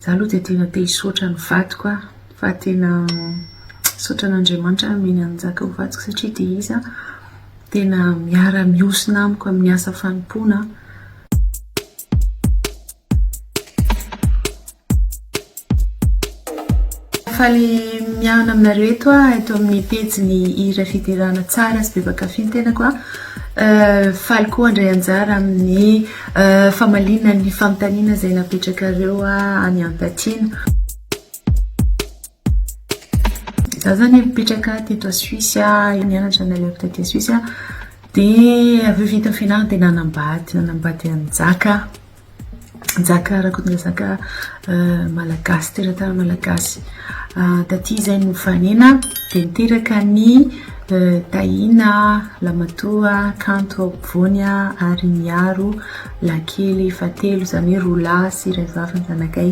Za aloha dia tena te hisaotra an'i vadiko a, fa tena misaotra an'Andriamanitra aho nomeny an'i Njaka ho vadiko satria dia izy a tena miara mihosona amiko amin'ny asa fanompoana a. Faly miahona aminareo eto aho eto amin'ny pejin'ny Hira Fiderana Tsara sy Be Mpankafy ny tenako a. Faly koa handray anjara amin'ny Famaliana ny fanontaniana izay napetrakareo any ampatiana. Za zany mipetraka teto a Suisse, nianatra ny alefo taty a Suisse. Dia avy eo vita fianarana dia nanambady, nanambady an'i Njaka. Njaka Rakotondrazaka malagasy, teratany malagasy. Taty izay nofanaina dia niteraka ny Tahiana lamatoa kanto ao ampovoany ary miaro lahy kely fahatelo, izany hoe roa lahy sy iray vavy ny zanakay.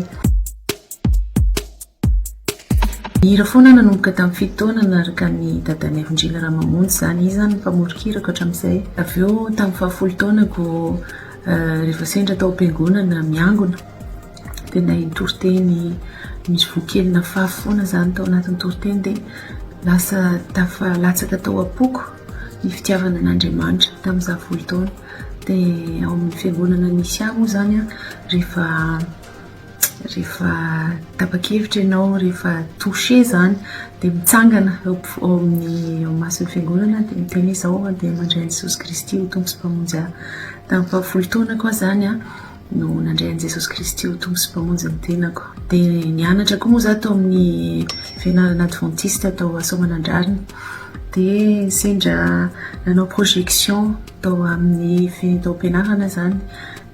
Nihira foana aho nanomboka tamin'ny fito taona niaraka an'i dadanay Vondrena Ramamonjy, izany izy izany ny mpamoron-kirako hatramin'izay. Avy eo tamin'ny fahafolo taonako rehefa sendra tao am-piangonana miangona, Tena iny toriteny misy voa kely nafafy foana zany tao anatin'ny toriteny dia lasa tafalatsaka tao am-poko ny fitiavana an'Andriamanitra tamin'izaho folo taona. Dia ao amin'ny fiangonana nisy ahy moa zany an, rehefa rehefa tapa-kevitra ianao, rehefa toucher zany dia mitsangana eo am-po- eo amin'ny eo imason'ny fiangonana dia miteny hoe izao dia mandray an'i Jesosy Kristy ho Tompo sy Mpamonjy ahy. Tamin'ny faha folo taonako aho zany an. no nandray an'i Jesosy Kristy ho Tompo sy Mpamonjy ny tenako. Dia nianatra koa moa za tao amin'ny fianarana adventiste tao Soamanandrariny. Dia sendra nanao projection tao amin'ny fitaom-pianarana izany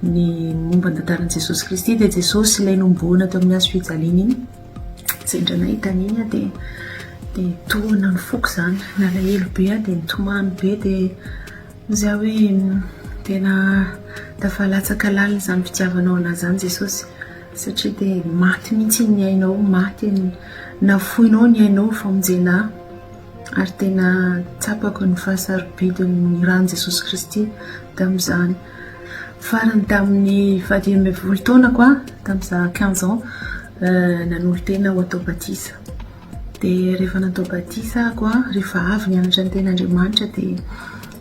ny momba ny tantaran'i Jesosy Kristy dia Jesosy ilay nohomboana tao amin'ny hazo fijaliana iny. Sendra nahita an'iny aho dia dia tohina ny foko izany. Nalahelo be aho dia nitomany be dia Za hoe tena tafa latsaka lalina zany fitiavanao anah zany Jesosy satria de maty mintsy ny ainao maty ny nafoinao ny ainao ny famonjena ahy ary tena tsapako ny fahasarobidiny ny rany Jesosy Kristy tamzany farany taminy faha dimy ambin'ny folo taonako a tamza quinze ans nanolo-tena ho atao batisa. Dia rehefa natao batisa ahako an, rehefa avy nianatra ny teny Andriamanitra dia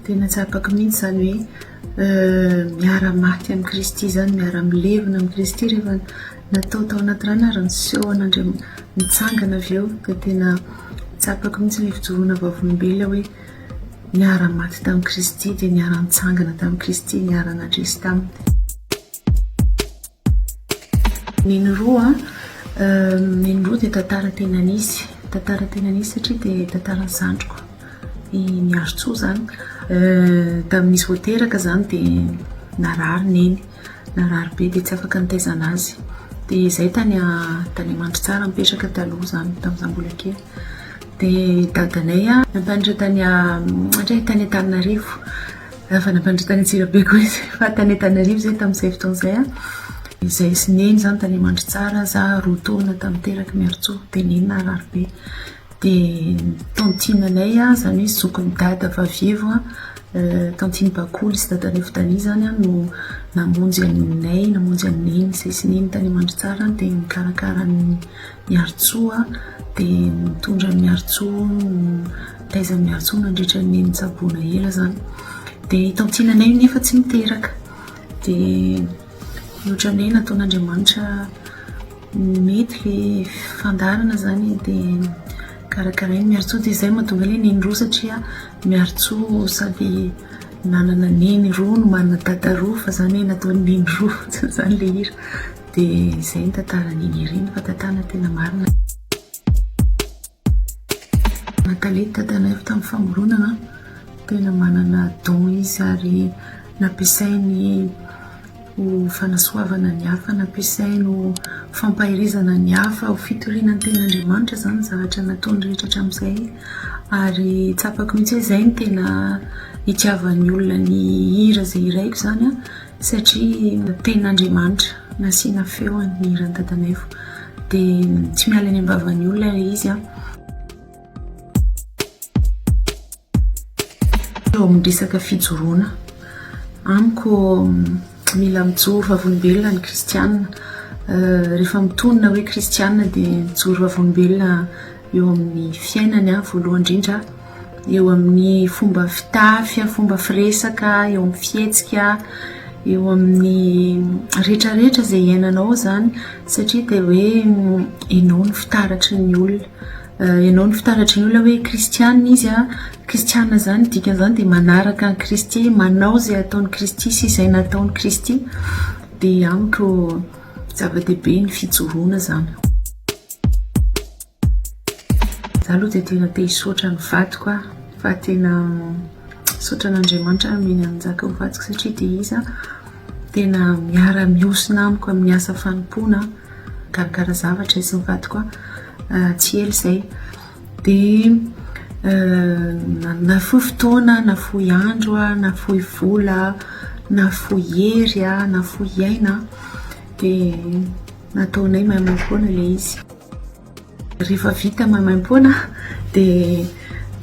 tena tsapako mihitsy izany hoe miara maty amin'i Kristy izany, miara milevina amin'i Kristy rehefa natao tao anaty rano ary niseho an'Andriamanitra, nitsangana avy eo dia tena tsapako mihitsy ilay fijoroana vavolombelona hoe niara maty tamin'i Kristy dia niara nitsangana tamin'i Kristy, niara nandresy taminy. Neny roa an, neny roa dia tantara tena nisy, tantara tena nisy satria dia tantaran'ny zandriko i Miarintsoa izany. Tamin'izy vao teraka izany dia narary neny, narary be dia tsy afaka nitaizana azy. Dia izay tany tany Mandritsara nipetraka taloha izany tamin'izaho tany mbola kely. Dia dadanay nampianatra tany tany Antananarivo. Efa nampandroso tany Antsirabe koa izy fa tany Antananarivo izay tamin'izay fotoana izay an. Izahay sy Neny izany tany Amandritsara, za roa taona tamin'ny terak'i Miarintsoa, dia Neny Nararibe. Dia ny tantine anay izany hoe zokin'i Dada vavievo an, tantine Bakoly sy Dadanivo Dany izany an no namonjy anay, namonjy an'i Neny, izahay sy Neny tany Amandritsara dia nikarakara ny Miarintsoa dia nitondra an'i Miarintsoa nitaiza an'i Miarintsoa nandritra ny nitsaboana ela izany dia i Tantinanay nefa tsy niteraka dia ohatran'ny hoe nataon'Andriamanitra mety ilay fandaharana izany dia karakarain'i Miarintsoa dia izay no mahatonga ilay neny roa satria Miarintsoa sady nanana neny roa no manana dada roa fa izany hoe nataon'ny neny roa fotsiny izany ilay hira Dia izay ny tantaran'i Nirina fa tantara tena marina. Nathalie Tadanaivo tamin'ny famoronana, tena manana don izy ary nampiasainy ho fanasoavana ny hafa, nampiasainy ho fampaherezana ny hafa, ho fitoriana ny tenin'Andriamanitra izany ny zavatra nataony rehetra hatramin'izay ary tsapako mihitsy hoe izay no tena itiavan'ny olona ny hira izay hiraiko izany an! Satria tenin'Andriamanitra nasiana feony ny hiran'i Dadamaivo dia tsy miala any am-bavan'ny olona ilay izy an. Eo amin'ny resaka fijoroana, amiko mila mijoro vavolombelona ny kristiana. Rehefa mitonona hoe kristiana dia mijoro vavolombelona. eo amin'ny fiainany an, voalohany indrindra eo amin'ny fomba fitafy an, fomba firesaka, eo amin'ny fihetsika, eo amin'ny rehetra rehetra izay iainanao izany satria dia hoe ianao no fitaratry ny olona, ianao no fitaratry ny olona hoe kristianina izy an, kristianina izany ny dikany izany dia manaraka an'i Kristy, manao izay ataon'i Kristy sy izay nataon'i Kristy dia amiko Zava-dehibe ny fijoroana zany. Za aloha dia tena te hisaotra ny vadiko aho fa tena misaotra an'Andriamanitra aho mena nanjaka ho vadiko satria dia izy aho tena miara mihosona amiko amin'ny asa fanompoana mikarakara zavatra izy ny vadiko aho ah, tsy ela izay dia nafoy fotoana, nafoy andro, nafoy vola, nafoy hery, nafoy aina dia nataonay maimaimpoana ilay izy. Rehefa vita maimaimpoana dia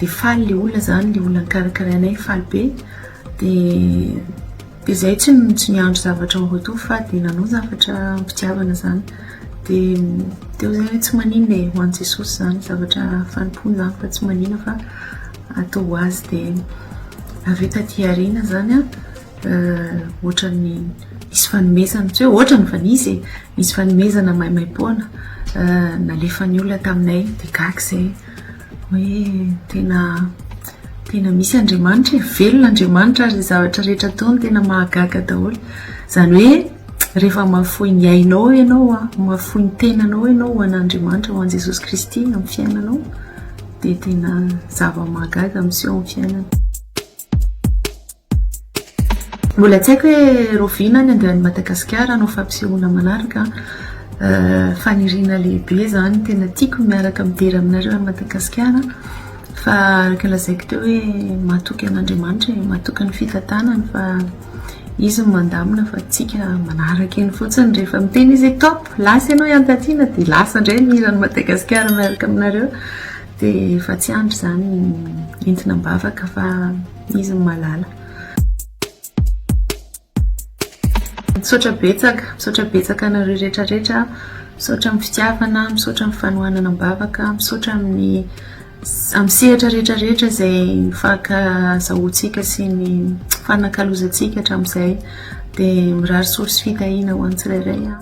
faly ilay olona izany, ilay olona nokarakarainay faly be dia. Dia zay tsy tsy miandry zavatra en retour fa dia nanao zavatra am-pitiavana zany. Dia teo zay hoe tsy maninona e, ho an'i Jesosy zany zavatra fanompoana zany fa tsy maninona fa atao ho azy. Dia avy eo taty aoriana zany an, ohatran'ny nisy fanomezana, tsy hoe ohatrany fa nisy e, nisy fanomezana maimaim-poana nalefan'ny olona taminay dia gaga zay. Hoe tena tena misy Andriamanitra e, velona Andriamanitra ary ny zavatra rehetra ataony tena mahagaga daholo. Izany hoe rehefa mahafoy ny ainao ianao, mahafoy ny tenanao ianao ho an'Andriamanitra, ho an'i Jesosy Kristy amin'ny fiainanao dia tena zava-mahagaga miseho amin'ny fiainana. Mbola tsy haiko hoe rahoviana ny andehan'i Madagasikara hanao fampisehoana manaraka an! Faniriana lehibe izany, tena tiako ny miaraka midera aminareo any Madagasikara fa araka ny lazaiko teo hoe mahatoky an'Andriamanitra e, mahatoky ny fitantanany fa Izy no mandamina fa antsika manaraka eny fotsiny, rehefa miteny izy hoe top, lasa ianao ihany taty na dia lasa indray ny hiran'i Madagasikara miaraka aminareo dia efa tsy andry izany entina am-bavaka fa. Izy no malala. Misaotra betsaka, misaotra betsaka anareo rehetra rehetra, misaotra amin'ny fitiavana, misaotra amin'ny fanohanana am-bavaka, misaotra amin'ny amin'ny sehatra rehetra rehetra izay nifankazahoantsika sy nifanakalozantsika hatramin'izay dia mirary soa sy fitahiana ho an'ny tsirairay.